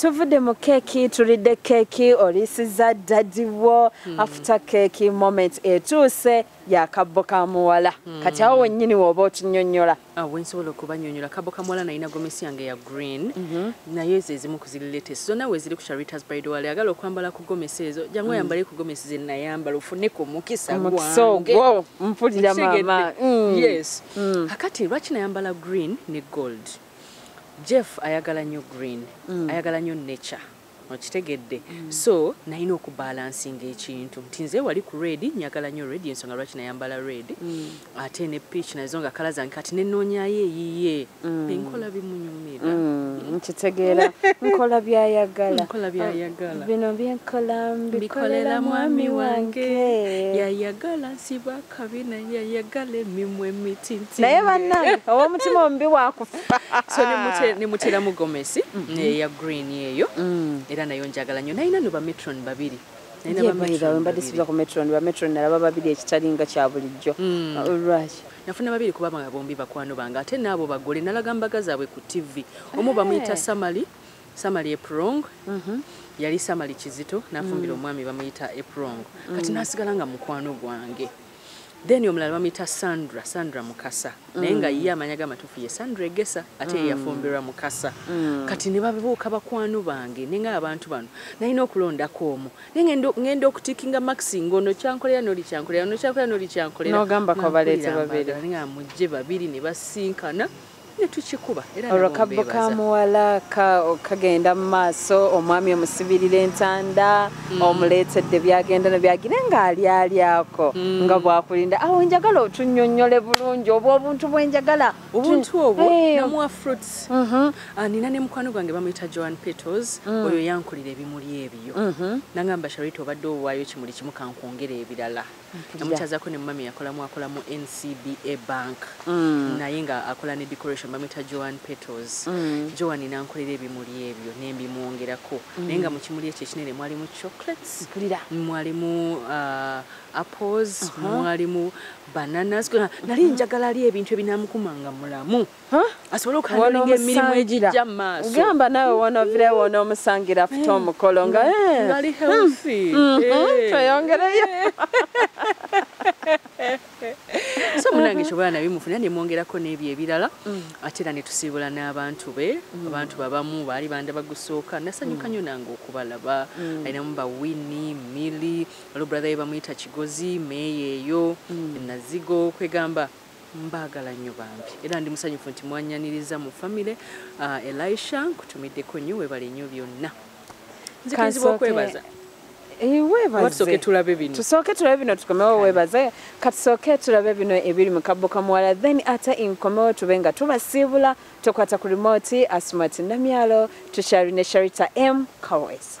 tuvudde mu keeki tulidde keeki olisiza dadi wo hmm. afuta keeki moment etuuse yakabbo ka muwala hmm. kati awo wennyini wooba otunyonyola Ah, wensobola okubanyonyola kabo kamwala nalina gomesi yange ya green mhm. naye ezo ezimu kuziriletes zonna weziri ku charitas bridewal agala okwambala ku gomesi ezo jangu mm. oyambale ku gomesi zenayambala ofune ku mukisa gwangeogo mpulira mama mm. yes mm. akati lwaki nayambala green ne gold jeff ayagala nnyo green ayagala nnyo nature okitegedde so nalina okubalansinga ekintu nti nze wali ku red njagala nyo red ensonga lwaki nayambala red mm. ate ne peach nazo nga kala zange kati nenoonyayo eyiye mm. enkola bimunyumira mm, nkitegeera nkola byayagala bino byenkola mbikolera mwami wange yayagala nsibako kabi naye yayagala emimwa emitinti naye bannange ow'omutima omubi wakufa so nemuteramu gomesi mm-hmm. neya green eyo mm. era nayo njagala nnyo nayina no bametron babiri mbadde siza ku metron bametron nalaba babiri ekitali nga kya bulijjo mm. uh, lwaki nafuna babiri kuba nga bombi bakwano bange ate naabo bagole nalaga mbaga zaabwe ku ttivi omu bamuyita samali samali eprong mhm. yali samali kizito nafumbira mm. omwami bamuyita eprong mm. kati nasigala nga mukwano gwange then omulala bamuyita sandra sandra mukasa mm. naye nga ye amanya gamatufu ye sandra egesa ate mm. yeyafumbirwa mukasa mm. kati ne babuuka bakwano bange nenga abantu bano nalina okulondako omu naye ngenda okutikinga maxi ngaono kyankolera noli kyankolera ono kyankolera noli kyankolera nogamba kwabaleeta babiri nga mujje babiri ne basinkana netukikuba era olwo kabbo ka muwala kagenda mu maaso omwami omusibirira entanda mm. omuleetedde byagenda no byagire ng'alyali ako mm. nga bwakulinda awo njagala otunyonyole bulungi obwo obuntu bwenjagala obuntu obwo eh. namuwa fruits mhm. ah, nina ne mukwano gwange bamuyita joan petals mm. oyo yankulira ebimuli ebyo mhm. nangamba sharita obadde owaayo kimuli kimu kankwongera ebirala namukyazako ne mumami yakolamu akola mu ncba bank mm. naye nga akola ne decoration bamwita joan petals mm. joan nankolera ebimuli ebyo nembimwongerako mm. naye nga mu kimuli ekyo ekinene mwalimu chocolates mwalimu uh, apples uh -huh. mwalimu bananas nali njagala ali ebintu ebinamukumanga mulamu asobole okuhandlinga emirimu egijja mu maaso gamba naawe wonovirewo onoomusangira afute eh. omukolo nga eh. hmm. hmm. eh. tweyongereyo so munange kyobola nabi mufuna nemwongerako n'ebyo ebirala hmm. ate era netusiibula n'abantu be abantu babamu baali banda bagusooka nasanyuka nyo nange okubalaba alinamu bawini mili olwo brother ye bamuyita kigozi meeyo eyo nazigo kwegamba mbaagala nnyo bambi era ndi musanyufu nti mwanyaniriza mu famire uh, elisha nkutumiddeko nnyo webale nnyo byonna nzikirizibwa okwebaza webaze tulabe bino tusooke tulabe bino tukomewo webaze katusooke tulabe bino ebiri mu kabbo kamuwala then ate inkomewo tube nga tubasiibula tokwata ku rimoti asumati namyalo tukyali ne sharita m kawesa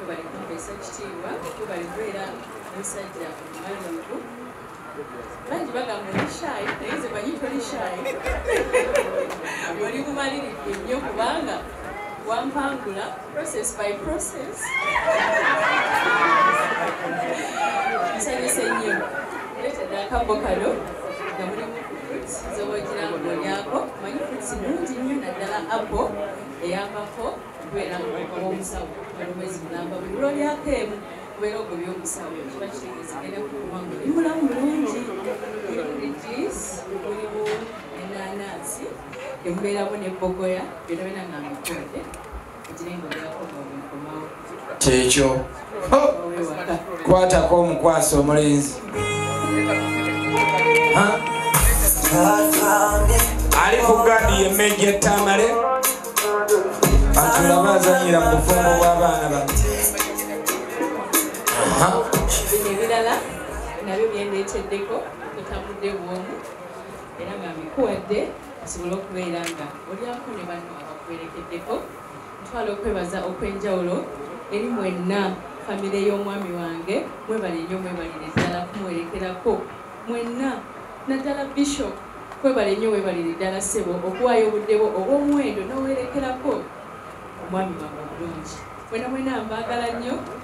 Webale kumpeesa ekitiibwa, webale kubeera musajja mumalungu. Bangi bagamba oli shy, naye nze manyi toli shy. Oli mumalirivu nnyo kubanga wampangula process by process. Nsanyuse nnyo. Leetedde akabbo kano nga mulimu fruits z'oba ogira ng'olyako. Manyi fruits nnungi nnyo naddala apple eyambako okubeera omusawo olumwezi mulamba buli lwolyako emu okubeera ogwo byomusawo kiba kitegeeza genda kukuba nga oli mulamu mulungi oli mu rijis oli mu enanansi emubeeramu ne bogoya byona byona nga mbikonde ekire nga olyakomaomukomawo kyekyo kwatako omukwasa omulenzi ali ku gadi yemeja etamale atulaba azanyira mu bufumbo bw'abaana ba bino ebirala nabyo byendeeteddeko otambudde bwomu era nga mbikuwadde asobole okubeera nga olyako ne banno abakuwerekeddeko Ntwala okwebaza okwenjawulo eri mwenna famire y'omwami wange mwebale nnyo mwebalire ddala kumuwerekerako mwenna naddala bishop kwebale nnyo webalire ddala ssebo okuwaayo obudde bwo obw'omuwendo n'owerekerako omwami wange omulungi mwena mwena mbaagala nnyo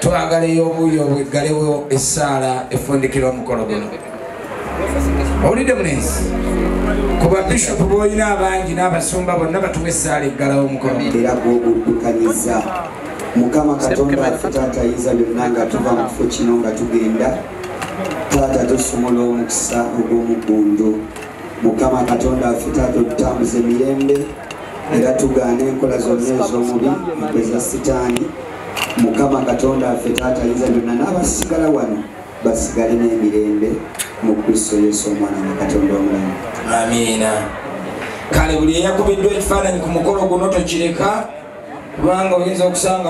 twagala ey'obuuyi obweggalewo essaala efundikira omukolo guno owulidde munensi ku babishopu boolina abangi n'abasumba bonna batuwa essaala eggalawo omukolo era gwoguddukanyiza mukama katonda afe taata yinza byonna nga tuva mu kifo kino nga tugenda taata tusumula omukisa ogw'omuggundu mukama katonda afe taata otutambuza emirembe era tugaana enkola zonna ez'omubi empeza sitaani mukama katonda affe taata yinza byonna n'abasigala wano basigale n'emirembe mu kristo yesu omwana wa katonda omulamu amiina kale buli eyakubiddwa ekifaananyi ku mukolo guno tokireka kubanga oyinza okusanga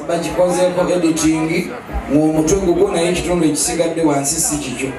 bakikozeko editingi ng'omutwe gugwo naye ekitundu ekisigadde wansi si kikyo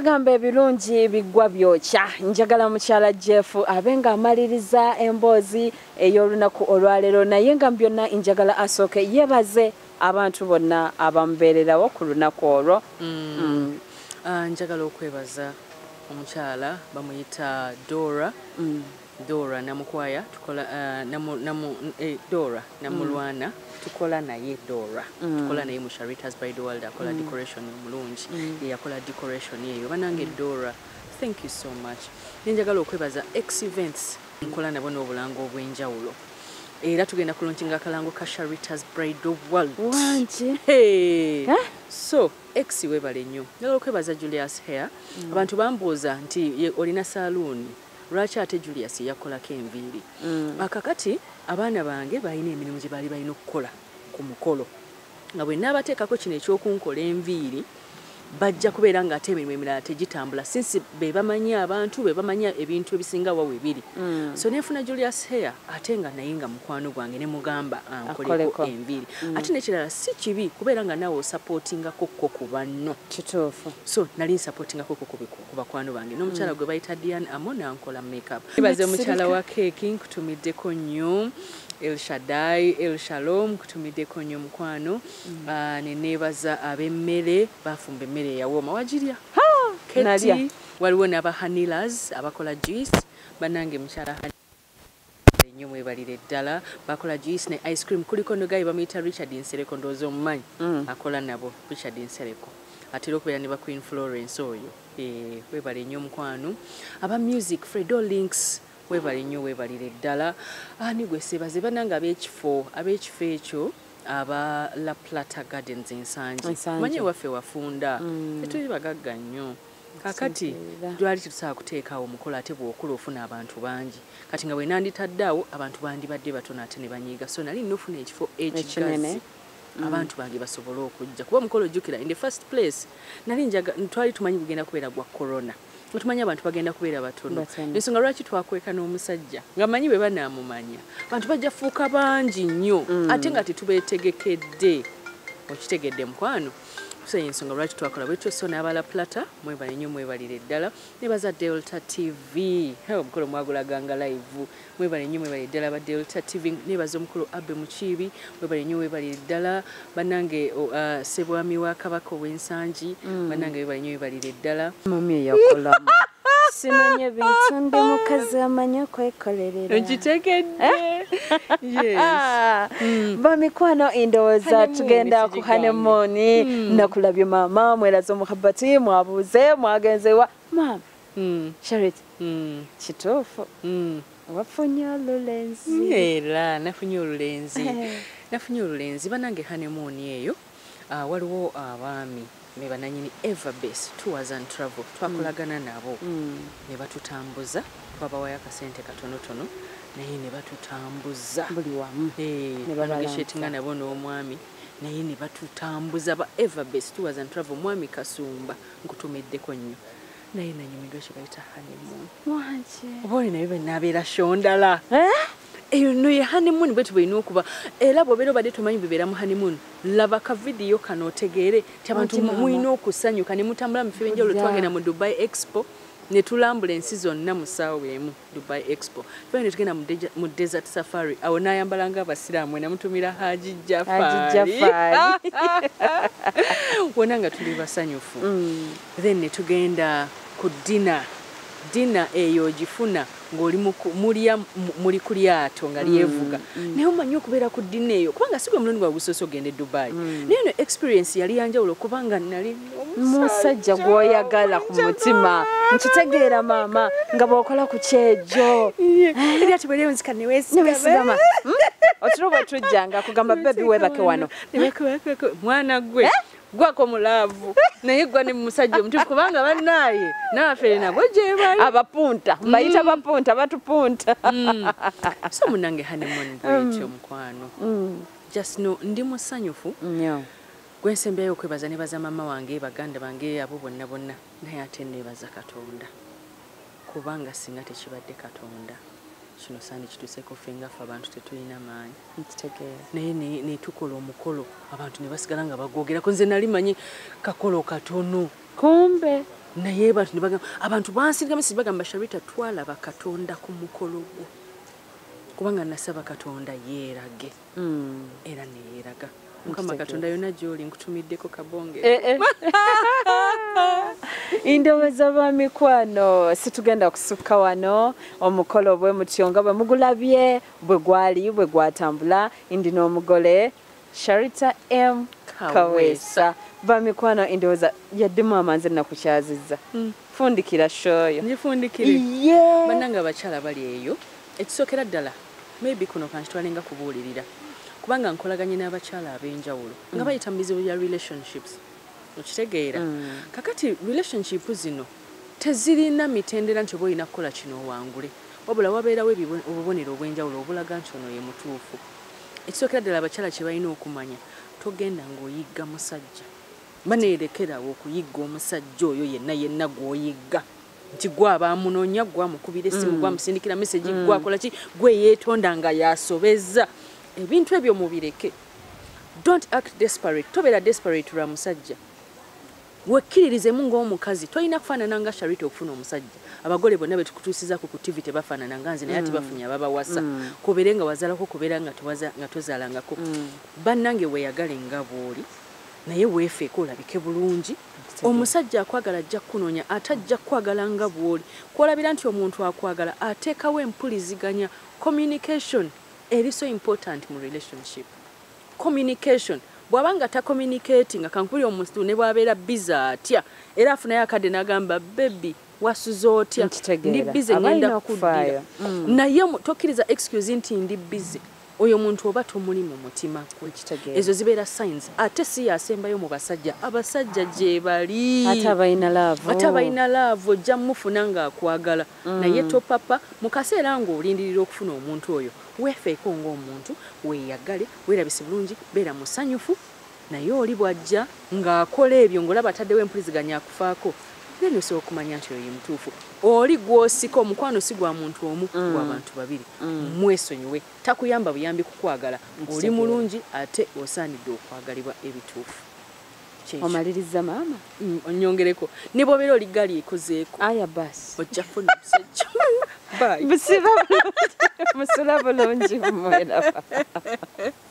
bagamba ebirungi biggwa byokya njagala mukyala jeff abe nga amaliriza emboozi ey'olunaku olwaleero naye nga mu byonna njagala asooke yebaze Abantu bonna abamubeererawo ku lunaku olwo. Ah, njagala okwebaza omukyala bamuyita Dora Dora Namukwaya tukola ah, namu, namu, eh, Dora Namulwana tukola naye Dora tukola naye mu Sharita's by the World akola decoration omulungi ye yakola decoration eyo banange Dora thank you so much Naye njagala okwebaza X events nkola nabo n'obulango obw'enjawulo era tugenda kulonkinga akalango ka sharitas bridal world wangi hey. eh? so ex webale nnyo njagala okwebaza julius hair mm. abantu bambuuza nti olina saluuni lwaki ate julius yakolako enviiri mm. akakati abaana bange balina emirimu gye baali balina okukola ku mukolo nga bwe naabateekako kino eky'okunkola enviiri bajja kubeera ng'ate emirimu emirala tegitambula sinsi be bamanyi abantu be bamanyi ebintu ebisinga wa we biri mm. so nefuna julius hair ate nga naye nga mukwano gwange ne mugamba ankoleko ah, enviiri mm. ate nekirala si kibi kubeera nga naawe osapootingako ko ku banno kituufu so nali nsapootingako ko ku bakwano bange n'omukyala mm. gwe bayita dian amo nankola makeup ibaze mukyala wa keeki nkutumiddeko nnyo El Shaddai, El Shalom, kutumideko nyo mukwano. Mm. Uh, ah, nenebaza abemmere bafumba emmere yawooma wagirya. Ha! Kati waliwo naba Hanilas abakola juice banange mukyala Hanilas nyo mwebalire ddala bakola juice ne ice cream kuliko nogaye bamuyita richard nsereko ndowooza omumanyi mm. akola nabo richard nsereko atera okubeera ne ba queen florence oyo eh, webale nyo omukwano aba music fredo links Webale nnyo webalire ddala ani gwe sebaze banange ab'ekifo ab'ekifo ekyo aba La Plata Gardens ensangi manyi ewaffe wafunda mm. tetuli bagagga nnyo kakati twali tetusobola kuteekaawo omukolo ate bw'okula ofuna abantu bangi kati nga bwe nanditadde awo abantu bandibadde batono ate ne banyiiga so nali nofuna ekifo ekigazi mm. abantu bange basobole okujja kuba omukolo ojjukira in the first place nali twali tumanyi gugenda kubeera gwa corona mm. otumanyi abantu bagenda kubeera batono ensonga lwaki twakweka n'omusajja nga manyi bwe banaamumanya abantu bajja fuuka bangi nnyo mm. ate nga tetubeetegekedde okitegedde mukwano so yensonga lwaki twakola bwetyo so n'abala plata mwebale nnyo mwebalire ddala ne baza delta tv omukolo mwagulaganga live mwebale nnyo mwebale ddala ba delta tv nebaza omukulu abe mukiibi mwebale nnyo webale ddala banange uh, sebwami wa kabaka ow'ensangi mm. banange webale nnyo webalire ddala mami eyakolamu simanye bintu ndi mukazi amanyi okwekolerera nkitegedde eh? mm. bamikwano endowooza tugenda ku hanemoni mm. nakulabye maama mweraza omuhabati mwabuuze mwagenzewa maama mm. charity mm. kituufu mm. wafunye olulenzi era nafunye olulenzi eh. nafunye olulenzi banange hanemuuni eyo uh, waliwo abaami uh, me bananyini everbase tours and travel twakolagana mm. nabo mm. ne batutambuza babawaya akasente katonotono naye ne batutambuza buli wamu eh, nebageshetinga nabo n'omwami naye ne batutambuza ba everbase tours and travel mwami kasumba nkutumiddeko nnyo naye nanyumidwa kyebayita honeymoon wanje oba oli naye benabeera shondala eh? eyo no ye honeymoon bweti bwelina okuba era bwobeera obadde tomanyi bwebeera mu honeymoon laba ka vidiyo kano otegeere ti abantu mulina okusanyuka ne mutambula mu fibinjawulo twagenda mu dubai expo ne tulambula ensi zonna mu ssaawa emu Dubai Expo fena netugenda mu desert safari awo nayambala nga abasiraamu enamutumira Haji Jafari wona nga tuli basanyufu mm. then netugenda ku dina dina eyo ogifuna ng'oli mulya muli ku lyato nga mm, lyevuga mm. naye omanyi okubeera ku dina eyo kubanga si gwe mulundi gwa gusoose ogenda e dubai naye no experience yali yanjawulo kubanga nali musajja gwoyagala ku mutima nkitegeera maama nga bwokola ku kyejo ebyatubweriwezikanewesigama otiro bwetujjanga kugamba bebi webake wano mwana gwe eh? gwako mulaavu naye gwa ne musajja omutufu kubanga bannaaye nabafere nabwe gyebali abapunta mm. bayita bapunta batupunta mm. so munange hanemoni bwetyo mm. mukwano just no ndi musanyufu Gwe nsembeyo okwebaza nebaza mama wange baganda bange abo bonna bonna naye ate nebaza katonda kubanga singa tekibadde katonda kino sandi kituseko fenga fe abantu tetulina maanyi naye netukola omukolo abantu nebasigala nga bagwogerako nze nali manyi kakolo katono kumbe naye bantu nebagamba abantu bansirika mesi bagamba sharita twalaba katonda ku mukolo gwo kubanga nasaba katonda yeerage mm. era neyeraga mukama katonda yona gyoli nkutumiddeko kabonge eh, eh. indowooza lwa mikwano situgenda kusukka wano omukolo bwe mutyo nga bwe mugulabye bwe gwali bwe gwatambula ndi n'omugole sharita m kaweesa bamikwano endowooza yaddemu amanzi ennaku kyazizza mm. fundikira shoyo ngifundikire yeah. bananga abakyala bali eyo ekisookera ddala maybe kuno kankitwalenga kubuulirira kubanga nkolaganye n'abakyala ab'enjawulo nga mm. bayita mu bizibu bya relationships okitegeera mm. kakati relationship zino tezirina mitendera nti oba olina kukola kino owangule wabula wabeerawo obubonero obw'enjawulo obulaga nti ono ye mutuufu ekisookera ddala abakyala kye balina okumanya togenda ng'oyigga musajja baneerekerawo okuyigga omusajja oyo yenna yenna gw'oyigga nti gwaba amunonya gwamukubira esimu mm. gwamusindikira mesegi mm. gwakola ki gwe yeetonda nga yasobeza ebintu ebyo mubireke dont act desperate tobeera desperate lwa musajja wekkiririzemu ng'omukazi tolina kufaanana nga sharita okufuna omusajja abagole bonna betukutuusiza ku ku tivi tebafaanana nga nze naye ati mm. bafunye ababawasa mm. kubeere nga wazalako kubeera nga tozalangako mm. bannange weyagale nga bwoli mm. naye weefeeko olabike bulungi omusajja akwagala ajja kukunoonya ate ajja kukwagala nga bw'oli kwolabira nti omuntu akwagala ateekawo empuliziganya communication eri so important mu relationship communication bw'aba nga tacommunicati nga kankubuli omusitu ne bw'abeera bize atya era afunayo akadde n'agamba bebi wasuze otya ndi bize ngenda kukuddira mm. naye tokkiriza excuse nti ndi bize oyo muntu oba tomuli mu mutima gwe ezo zibeera signs ate si yasembayo mu basajja abasajja gyebali ate abalina laavu ojja mufuna ng'akwagala mm. naye topapa mu kaseera ng'olindirira okufuna omuntu oyo weefeeko ng'omuntu weeyagale weerabise bulungi beera musanyufu Naye oli bwajja nga akola ebyo nga olaba ataddewo empuliziganya akufaako then osobola okumanya nti oyo yemutuufu oli gwosika omukwano si gwa muntu omu mm. gwa bantu babiri mm. mwesonyiwe takuyamba buyambi kukwagala oli mulungi ate osaanidde okwagalibwa ebituufu omaliriza maama mm, onyongereko ne bwobeera oli gali ekozeeko aya bas ojja kufuna omusajja busiba bulungi musula bulungi mweraba